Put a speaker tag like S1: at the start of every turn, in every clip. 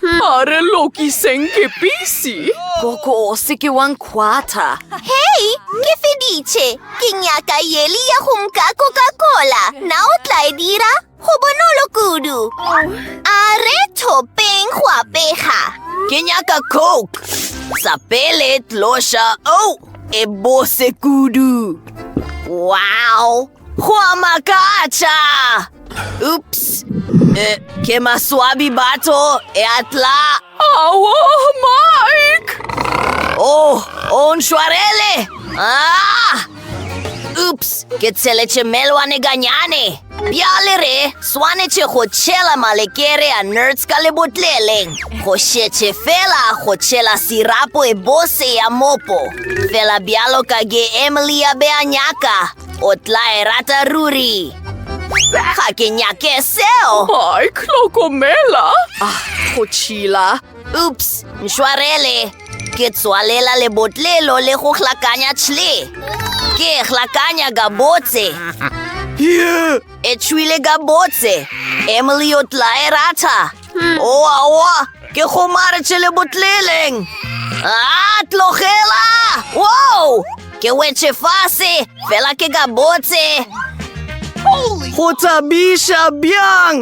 S1: A re lokiseng ke pisi. Gogo, o se
S2: ke wa nkhwatha. Hei,
S3: ke feditše. Ke nyaka yeli ya go mka Coca-Cola. Na o tla e dira? Go bonolo kudu. A re thopeng go apega. Ke nyaka
S2: Coke. Sa pele tloša. Oh, e bose kudu. Wow. Go a makatša! Oops! Eh, ke maswabi batho, e a tla! Awo,
S1: Mike!
S2: Oh, o ntshwarele! Ah! Oops! Ke tsheletše melwane ganyane! Bjale re swanetše go tšhela malekere a nerds ka lebotleleng go šetše fela go tšhela sirapo e bose ya mopo fela bjalo ka ge emily a be a nyaka O tla e rata ruri. Ga ke nyake seo. Ai, hlokomela.
S1: Ah, go
S2: tšhila. Ups, mšwarele. Ke tswalela lebotlelo le go hlakanya tšhle. Ke e hlakanya gabotse.
S1: E tšhwile
S2: gabotse. Emily o tla e rata. oaoa ke gomaretše le botleleng a tlogela wow ke wetše fase fela ke ka botse
S1: go thabiša bjang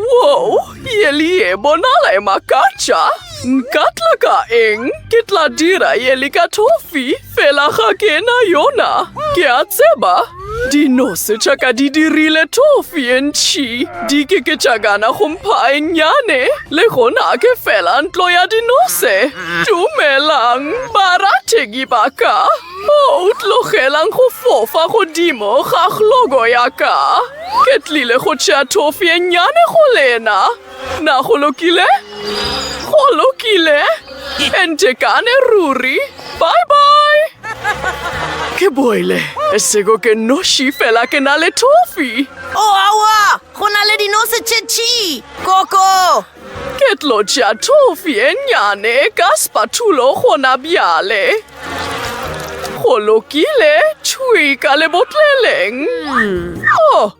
S1: wow ye le ye bonala e makatša nka tla ka eng ke tla dira ye le ka tofi Fela ga ke na yona. Ke a tseba. Dinose tša ka di dirile tofi e ntšhi. Di ke ke tša gana go mpha e nnyane. Le gona ke fela ntlo ya dinose. Dumelang, barategi ba ka. O oh, tlogelang go fofa godimo ga glogo ya ka. Ke tlile go tšea tofi e nnyane go lena. Na go lokile? Go lokile. E ntekane ruri. Bye-bye. Ke boile. E sego ke noši fela ke na le tofi. O oh, awa!
S2: Go na le dinose tše tši. Koko! Ke tlo
S1: tša tofi e nnyane ka spatulo gona bjale. Go lokile, tšhui ka lebotleleng. Mm. Oh!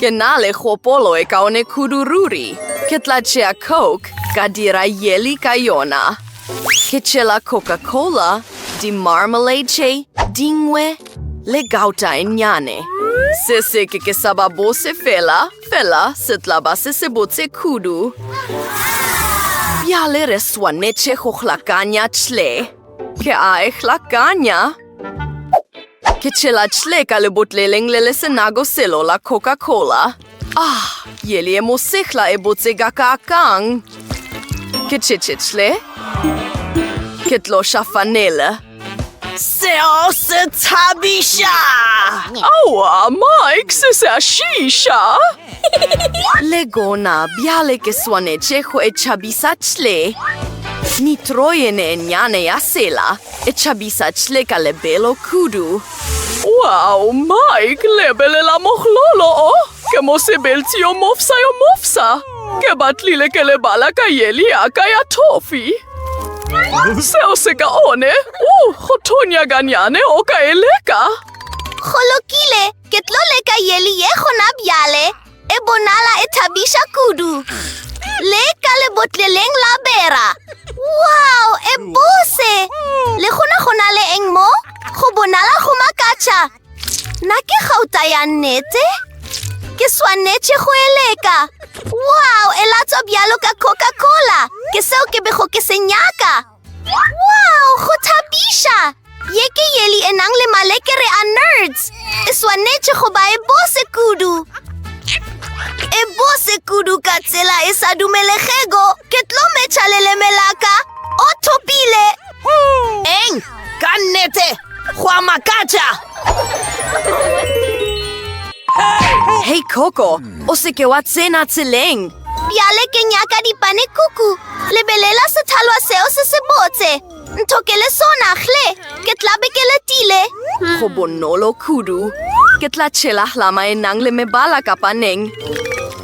S1: Ke na
S2: le kgopolo e kaone kudu ruri. Ke tla tšea Coke ka dira yeli ka yona. Ke tšela Coca-Cola, di marmalade tše dingwe le gauta e nnyane. Se se ke ke sa ba bose fela, fela se tla ba se se botse kudu. Bjale re swanetše go hlakanya tšhle. Ke a e hlakanya. Ke tšhela tšhle ka lebotleleng le le senago selo la Coca-Cola. Ah, yeli e mosehla e botse ga ka kang. Ke tšhetše tšhle. Ke tlo ša fanela. Seo se thabiša! Aowa,
S1: Mike, se se a šiša!
S2: Le gona, bjale ke swanetše go e tšhabisa tšhle. Nitroyene e nnyane ya sela. E tšhabiša chle ka lebelo kudu. Wow,
S1: Mike, lebelela mohlolo o! Ke mosebeltsi yo mofsa yo mofsa! Ke batlile ke lebala ka yeli ya ka ya thofi. Seo se ka one, u, go thonya ganyane o ka e leka. Go
S3: lokile, ke tlo leka yeli ye gona bjale. E bonala e thabiša kudu. Le ka lebotleleng la bera. Wow, e bose! Le gona go na le eng mo? Go bonala go makatša. Na ke gauta ya nnete? Ke swanetše go e leka. Wow, e latswa bjalo ka Coca-Cola. Ke seo ke bego ke se nyaka. Wow, go thabiša! Ye ke yeli e nang le malekere a nerds. E swanetše go ba e bose kudu. E bose kudu ka tsela e sa dumelegego. Ke tlo metšha leleme la ka. O thopile! Eng?
S2: Ka nnete, go a makatša! Hei Coco, o seke wa tsena tseleng. Bjale ke
S3: nyaka dipane kuku. Lebelela sethalwa seo se se botse. Ntho ke le sona, hle, ke tla be ke letile. Go bonolo
S2: kudu. Ke tla tšhela hlama e nang le mebala ka paneng.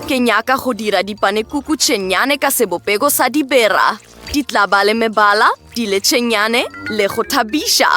S2: Ke nyaka go dira dipanekuku tše nnyane ka sebopego sa dibera. Di tla ba le mebala, diletšenyane le go thabiša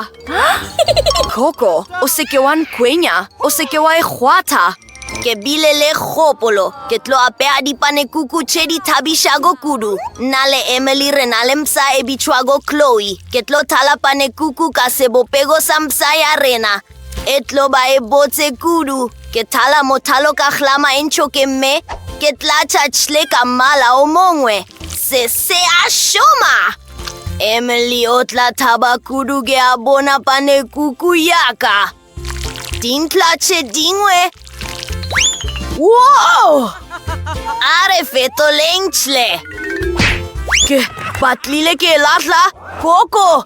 S2: koko o seke wa nkwenya o seke wa e kgwatha ke bile
S3: le kgopolo ke tlo apea dipanekuku tše di thabišago kudu nna le emily re na le mpsa e bitšwago chloe ke tlo thala panekuku ka sebopego sa mpsa ya rena E tlo ba e botse kudu. Ke thala mothalo ka hlama e ntšho ke mme. Ke tlatša tšhle ka mmala o mongwe. Se se a šoma! Emily o tla thaba kudu ke a bona pane kuku yaka. Dintla tše dingwe. Wow! A re fetoleng tšhle.
S2: Ke batlile ke lahla koko.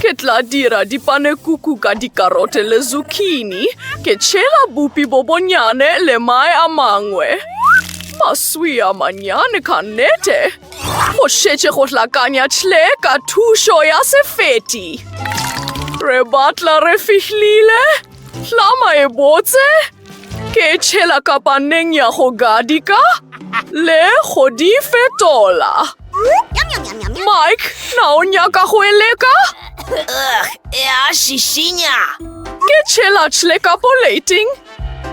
S1: Ke tla dira dipanekuku ka dikarote le zucchini. Ke tšhela bupi bo bonyane le mae a mangwe. Maswi a manyane ka nnete. Go šetše go hlakanya tšhle ka thušo ya sefeti. Re batla re fihlile. Hlama e botse. Ke tšhela kapaneng ya go gadika le go di fetola. Mike, na o nyaka go e leka?
S3: Ya šišinya. Ke
S1: tšhela tšhle ka poleiting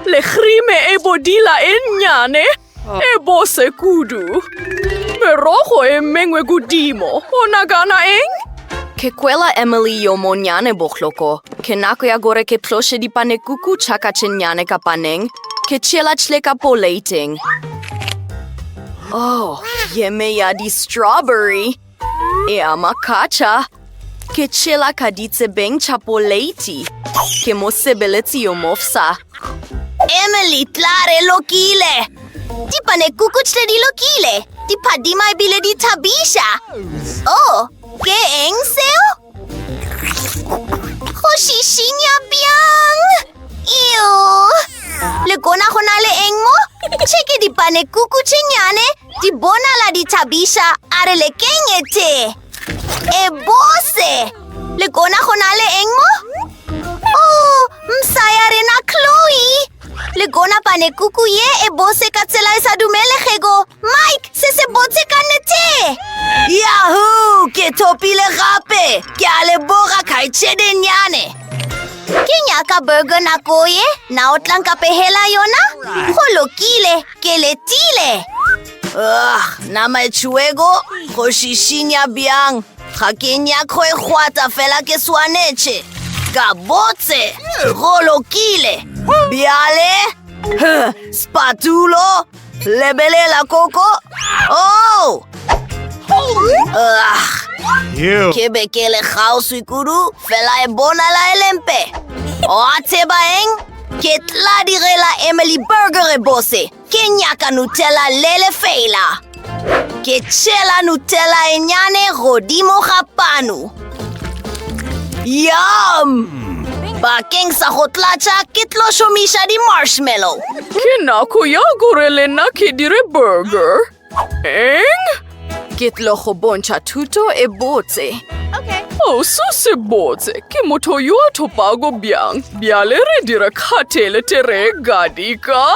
S1: le khrime e bodila e nnyane. E bose kudu. Merogo e mengwe godimo. O nagana eng? Ke kwela
S2: Emily yo monnyane bohloko. Ke nako ya gore ke tloše dipanekuku tša ka tše nnyane ka paneng. Ke tšeela tšle ka poleiteng. Oh, yeme ya di-strawberry! Ea makatša, ke tšhela ka ditsebeng tša poleiti. Ke mosebeletsi yo mofsa. Emily,
S3: tla re lokile! Dipanekuku tše di lokile, di phadima ebile di thabiša. Oh, ke eng seo? Go šišinya bjang? Eo! Le kona go na le eng mo? Tše ke dipane kuku tše nyane, di bonala di thabiša, a re le kenyete. E bose! Le kona go na le eng mo? Oh, msa ya rena Chloe! Le gona pane kuku ye e bose ka tsela e sa dumelegego. Mike, se se botse ka nete! Yahoo! Ke thopile gape! Ke a le boga kgaitšedenyane! Ke nyaka burger nako ye, na o tlanka pehela yona? Go lokile, ke letile! Ugh, nama e tšhuego, go šišinya bjang! Ga ke nyaka go ekgwata fela ke swanetše. Ka botse, go lokile. Bjale, spatulo, lebelela koko. Oh! Ugh. Ke be ke le kgauswi kudu, fela e bonala e lempe. Oa tseba eng? Ke tla direla Emily Burger e bose. Ke nyaka Nutella le lefeela. Ke tšhela Nutella e nyane godimo ga panu. Yum! Bakeng sa go tlatša ke tlo šomiša di-marshmallow. Ke nako
S1: ya gore le nna ke dire burger. Eng? Ke tlo
S2: go bontšha thuto e botse. Okay. Oh,
S1: so se botse. Ke motho yo a thopago bjang. Bjale re dira khathele tere gadika.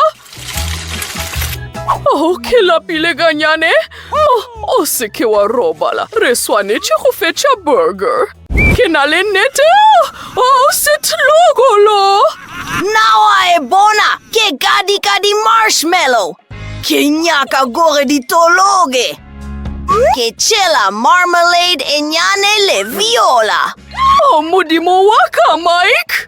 S1: Oh, ke lapile ganyane. Oh, o se ke wa robala. Re swanetše go fetša burger. Ke na le nnete. O setlogolo. Na
S3: wa e bona? Ke ka di ka di marshmallow. Ke nyaka gore di tologe. Ke tšhela marmalade e nyane le viola. O
S1: modimo wa ka, Mike.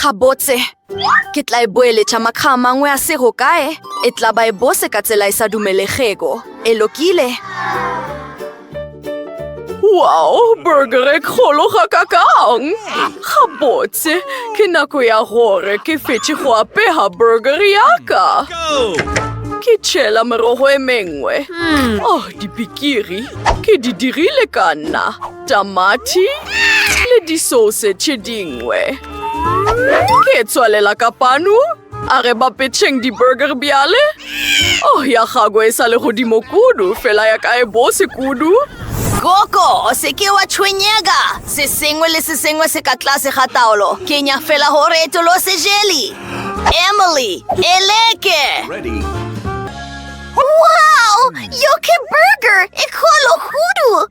S2: Gabotse, ke tla e boeletša makga a mangwe a sego kae, e tla ba e bose ka tsela e sa dumelegego. E lokile?
S1: Wow, burger e kgolo ga kakang! Gabotse, ke nako ya gore ke fetše go apega burger ya ka. Ke tšhela merogo e mengwe. Oh, dipikiri, ke di dirile ka nna. tamati le disose tše dingwe. Ke tswalela ka panu, a re ba petšheng di-burger bjale. Oh, ya gago e sa le godimo kudu, fela ya ka e bose kudu. Koko,
S3: se ke wa tshwenyega. Se sengwe le se sengwe se ka tlase ga taolo. Ke nya fela gore e tolose jeli. Emily, e leke!
S4: Ready. Wow!
S3: Yoke burger! E kgolo hudu!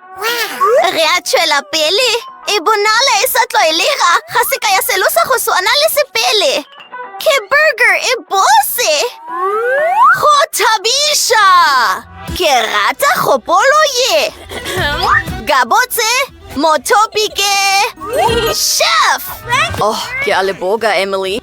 S3: Re a tšwela pele. E bonala e sa tlwaelega ga se ka ya selo sa go swana le sepele. Ke burger e bose! Go thabiša! Ke rata kgopolo ye! Gabotse,
S2: mothopi ke... Chef! Oh,
S3: ke a leboga,
S2: Emily.